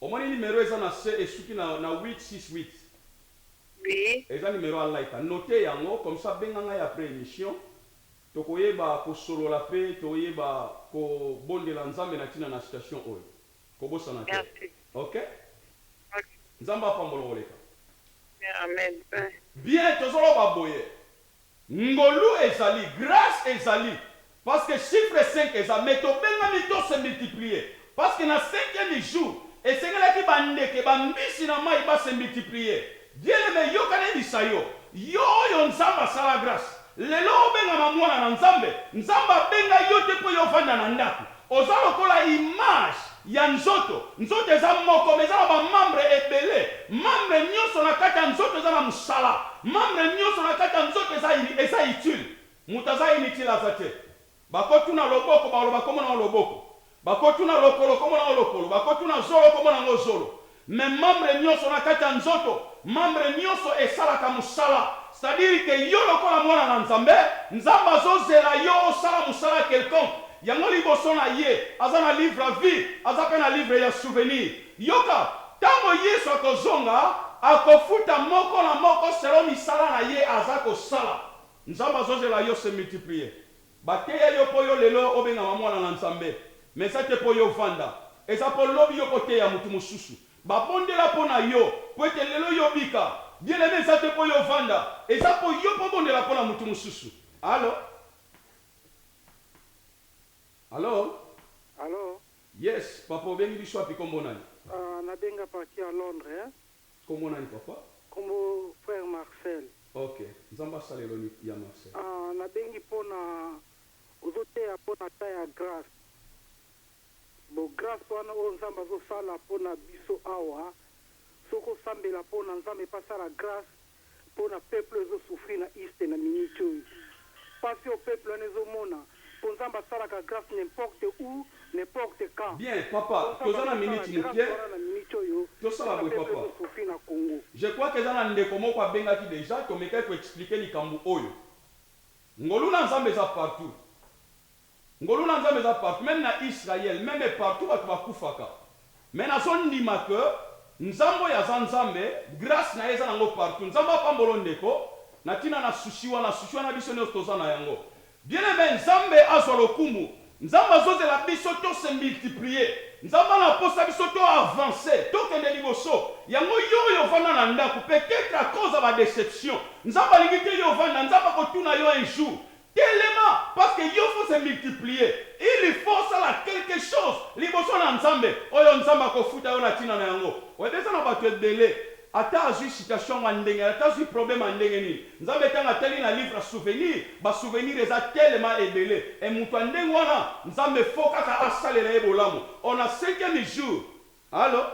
Omoni numero eza na se esuki na 868? Oui. Eza numero ya Laita. Noter yango comme ça benga ngai après emission toko yeba ko solola pe to yeba ko bondela Nzambe na tina na situation oyo. Ko bosana te. Merci. Ok? Ok. Nzambe apambola koleka. Amen. Bien tozo loba boye Ngolu ezali, grace ezali parce que chiffre cinq eza mais tobengami to se multiplier parce que na cinquième jour esengelaki ba ndeke, ba mbisi na mayi ba se multiplier. Bien aime yoka nayebisa yo, yo oyo Nzambe asala grace lelo obengama mwana na Nzambe, Nzambe abenga yo te po yo ovanda na ndaku Oza lokola image ya nzoto. Nzoto eza moko mais eza na ba membres ebele. Membre nionso na kati ya nzoto eza na musala. Membre nionso na kati ya nzoto eza eza utile. Mutu aza inutile aza te. Bako tuna loboko bakoloba kombo na yo loboko. Bako tuna lokolo kombo na yo lokolo. Bako tuna zolo kombo na ngo zolo. Mais membre nioso na kati ya nzoto, membre nioso esalaka musala. C'est à dire que yo lokola mwana na Nzambe, Nzambe azo zela yo osala musala quelconque. Yango liboso na ye, aza na livre ya vie, aza pe na livre ya souvenir. Yoka, tango Yesu ako zonga, ako futa moko na moko selon misala na ye aza ko sala. Nzambe azo zela yo se multiplier. Ba teya yo po yo lelo obengama mwana na Nzambe mais eza te po yo vanda eza po lobi yo ko teya mutu mususu ba bondela po na yo po ete lelo yo bika bien aime eza te po yo vanda eza po yo po bondela po na mutu mususu allo allo. Allo. Yes papa obengi biso wapi kombo nani. Ah na benga parti ya londre hein. Kombo nani papa? Kombo frère Marcel. Ok nzambe asala eloni ya Marcel. Ahh na bengi pona ozo teya pona temps ya grace bon grace wana oyo nzambe azo sala pona biso awa soki osambela pona nzambe pe asala grace Pona peuple ezo souffrir na East na minute oyo. Pasi oyo peuple wana ezo mona po Nzambe asalaka grace n'importe où, n'importe quand. Bien papa Po Nzambe toza na azo sala minute mukie grace wana na minute oyo tosala pona boye peuple papa ezo souffrir na Congo. Je crois que eza na ndeko moko abengaki dejà tomekaki ko expliquer likambu oyo. Ngolu na Nzambe eza partout. Ngolu na nzambe eza partout meme na Israël meme partout batu ba kufaka mais nazo ndima que nzambe oyo aza nzambe grace naye eza nango partout nzambe apambola yo ndeko na tina na souci wana souci wana biso nioso toza na yango bien aime nzambe azua lokumu nzambe azo zela biso to se multiplier nzambe ana posa biso to avance to kende liboso yango yo oyo ovanda na ndaku peut etre à cause ya ba deception nzambe alingi te yo ovanda nzambe ako tuna yo un jour Telema parce que yo faut se multiplier il faut osala quelque chose liboso na nzambe oyo nzambe akofuta yo na tina na yango oyebi eza na batu ebele ata azui citation yango ya ndenge nini ata azui probleme ya ndenge nini nzambe tango atali na livre ya souvenir ba souvenir eza telema ebele et mutu ya ndenge wana nzambe faut kaka asalela ye bolamu on a cinquième jour allo.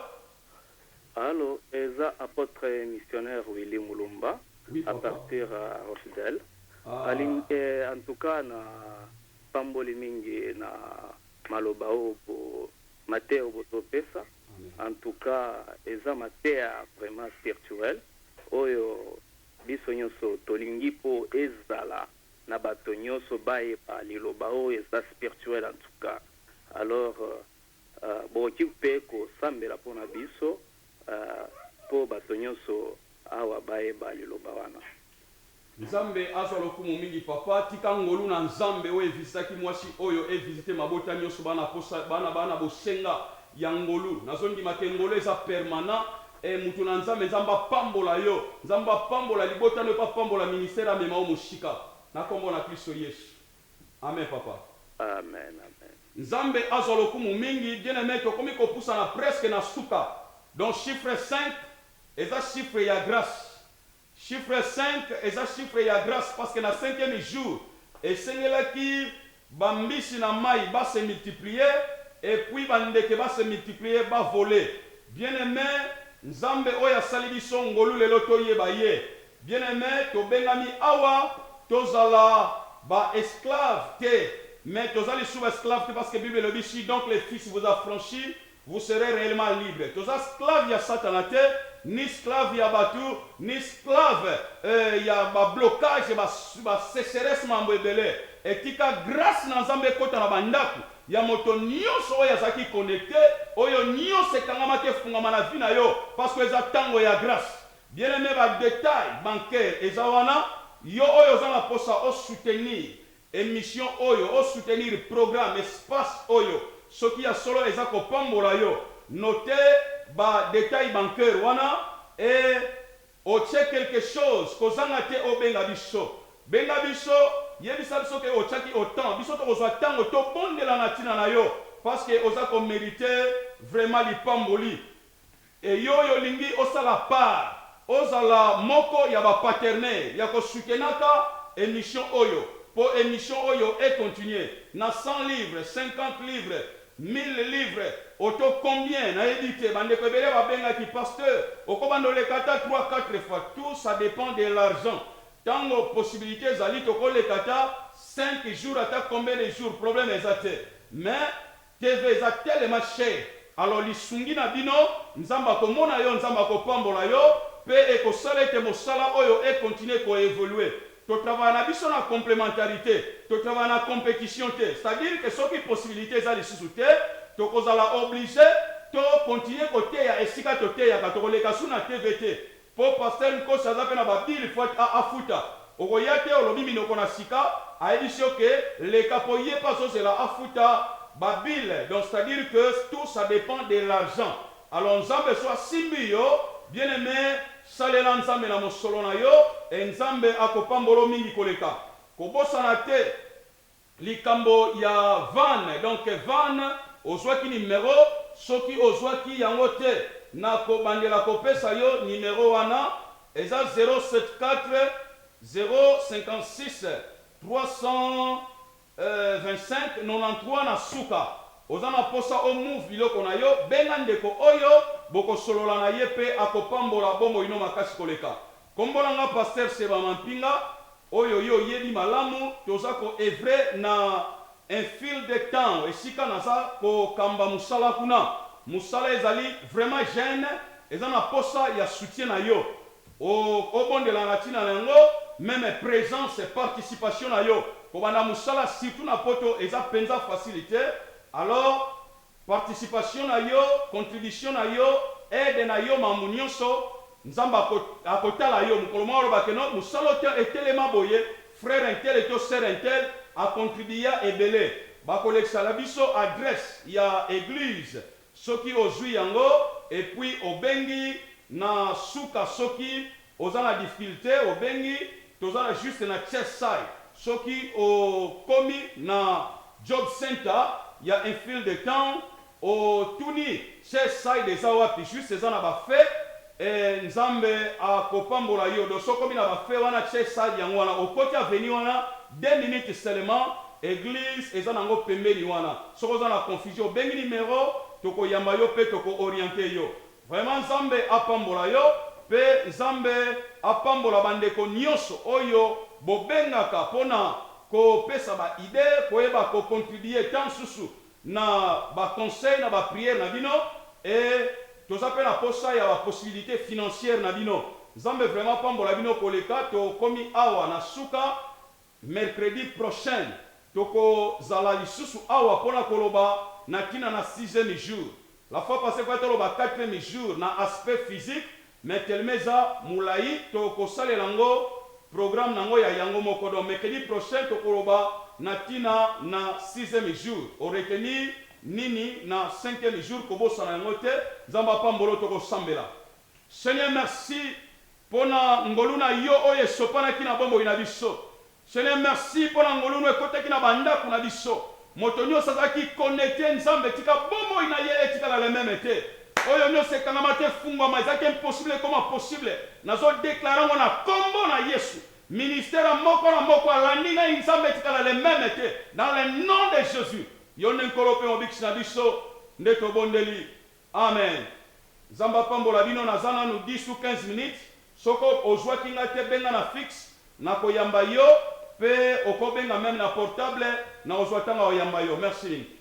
Allo eza apotre missionnaire Willy mulumba à partir ya Rochdale aling eh en tout cas na pamboli mingi na maloba oyo bo mateya oyo bozo pesa en tout cas eza mateya vraiment spirituel oyo biso nioso tolingi po ezala na bato nioso bayeba liloba oyo eza spirituel en tout cas alors Bokoki mpe kosambela mpo na biso mpo bato nyonso awa bayeba liloba wana. Nzambe azwa lokumu mingi papa, tika ngolu na Nzambe oyo evisitaki mwasi oyo e visite mabota nioso ba na posa ba na ba na bosenga ya ngolu nazo ndima ke ngolu eza permanent eh mutu na Nzambe Nzambe apambola yo Nzambe apambola libota no yo pe apambola ministère amema yo mosika na kombo na klisto yesu. Amen papa. Amen amen. Nzambe azwa lokumu mingi bien aime tokomi kopusana presque na suka donc chiffre cinq eza chiffre ya grace chiffre cinq eza chiffre ya grace parce que na cinquième jour esengelaki ba mbisi na mayi ba se multiplier et puis ba ndeke ba se multiplier ba voler bien aime nzambe oyo asali biso ngolu lelo toyeba ye Bien-aime, tobengami awa tozala ba esclaves te, mais toza lisusu ba esclaves te, parce que Bible elobi si donc le Fils vous affranchit, vous serez reellement libres. Toza sclaves ya Satana te, ni sclaves ya batu, ni sclaves eh, ya ba blocages, ba ba secheresses, maambo ebele. Et tika grace na Nzambe ekota na ba ndaku ya moto nionso oyo azalaki connecter, oyo nionso ekangamaki efungwama na vie na yo, parce que eza tango ya grace. Bien aime ba details bancaires eza wana, yo oyo oza na posa o soutenir emission oyo, o soutenir programme, espace oyo, soki ya solo eza ko pambola yo, notez ba details bancaires wana et otie quelque chose, kozanga te obenga biso. Benga biso, yebisa biso que otiaki autant, biso tokozua tango to bondela na tina na yo, parce que oza ko meriter vraiment lipamboli. Et yo yo lingi osala part ozala moko ya ba paternee ya ko soutenaka emission oyo po emission oyo e continue na 100 livres, 50 livres, 1000 livres oto combien na yebi te ba ndeko ebele ba bengaki pasteur oko banda oleka ata trois quatre fois tout ça depend de l'argent tango possibilite ezali toko leka ata cinq jours ata combien de jours problème eza te mais TV eza tellement cher alors lisungi na bino nzambe akomona yo nzambe akopambola yo pe ekosala ete mosala oyo e continuer ko evoluer to travailla na biso na complementarite to travailla na competition te c'est à dire que soki possibilite eza lisusu te tokozala oblige to continuer koteya esika toteyaka tokoleka su na TV te Po pasteur nkosi aza pe na ba bill foit a afuta okoya te olobi minoko na sika ayebisi yo que leka po ye pe azozela afuta ba bill donc c'est à dire que tout ça depend de l'argent alors nzambe so asimbi yo bien aime salela nzambe na mosolo na yo et nzambe akopambolo mingi koleka kobosana te Likambo ya van donc van ozwaki numero soki ozwaki yango te nako bandela kopesa yo numero wana eza 074056325993 na suka oza na posa o move biloko na yo benga ndeko oyo bokosolola na ye pe akopambola bomoi no makasi koleka Kombo na nga Pasteur Seba Mampinga, oyo yo oyebi malamu, toza ko oeuvrer na Enfield Town esika naza ko kamba musala kuna. Musala ezali vraiment jeune, eza na posa ya soutien na yo. Obondelaka na tina na yango, meme presence, participation na yo kobanda musala surtout na poto eza penza facile te. Alors. Participation na yo, contribution na yo, aide na yo, mambu nionso, Nzambe ako, akotala yo. Mokolo moko aloba que non, musala otia etelema boye, frère un tel to sœur un tel a contribua ebele. Bakolekisa na biso adresse ya eglise soki ozui yango, et puis obengi na suka soki Oza na difficulte obengi toza na juste na chest side soki o komi na job center ya enfield town o tuni chest side eza wapi juste eza na ba feux eh nzambe a ko pambola yo donc soki okomi na ba feux wana chest side yango wana o koti avenue wana deux minutes seulement eglise eza na ngo pembeni wana soki oza na confusion obengi numero toko yamba yo pe toko orienter yo Vraiment nzambe apambola yo pe nzambe apambola ba ndeko nioso oyo bobengaka pona ko pesa ba idee koyeba ko contribuer temps susu na ba conseil na ba prière na bino et toza pe na posa ya ba possibilite financière na bino nzambe vraiment apambola bino koleka tokomi awa na suka Mercredi prochaine toko zala lisusu awa pona koloba na tina na sixieme jour. La fois passee fallait toloba quatrieme jour na aspect physique mais teleme eza mulayi toko salela ngo programme na ngo ya yango moko donc mercredi prochaine toko loba na tina na sixieme jour. O retenir nini na cinquieme jour kobosana yango te. Nzambe apambola yo toko sambela. Seigneur merci pona ngolu na yo oyo esopanaki na bomoi na biso Seigneur merci pona ngolu no ekotaki na ba ndaku na biso moto nioso azalaki connecte nzambe tika bomoi na ye etikala le meme te oyo nioso ekangama te efungwama ezalaki impossible ekoma possible nazo declare yango na kombo na yesu ministère moko na moko alandi ngai nzambe etikala le meme te dans le nom de jesus yo nde nkolo pe mobikisi na biso nde tobondeli Amen nzambe apambola bino naza nanu 10 ou 15 minutes soki ozuaki nga te benga na fixe nako yamba yo pe oko benga meme na portable nako zua tango yako yamba yo merci mingi.